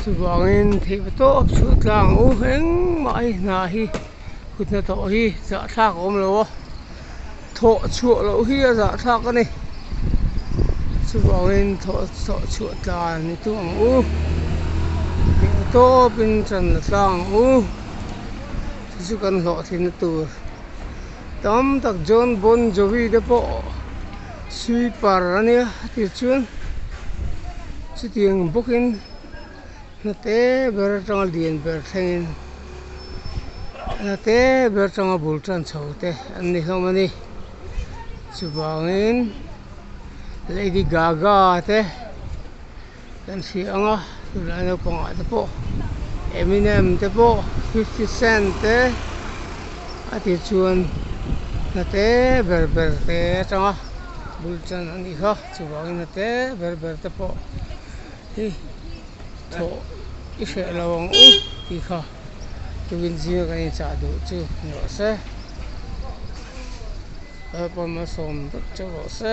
Chuvangin theih va tawp chhuah tlang u, engmah a inhna hi kutna tawh hi zahthlak a awm lo a, thawh chhuah loh hi a zahthlak a ni. Chuvangin thawh thawh chhuah tla ni thung ang u, theih va tawpin channa tlang ang u, chu chu kan hlawhtlinna tur tam tak John Bon Jovi te pawh-- Sweeper a nia a ti chuan chuti ang bawkin hnate ber atanga lian ber thlengin hnate ber atanga bul tan chho te an ni hlawm a ni chuvangin lady gaga te. Kan hria ang a tunlai naupang ah te pawh Eminem te pawh fifty cent te a ti chuan hnate ber ber te atang a bul tan a ni kha chuvang in hnate ber ber te pawh hi thawh i hreh lo ang u ti kha tu in zing a kan in chah duh chu ni awh se kalpawm a sawm dup chauh lo se.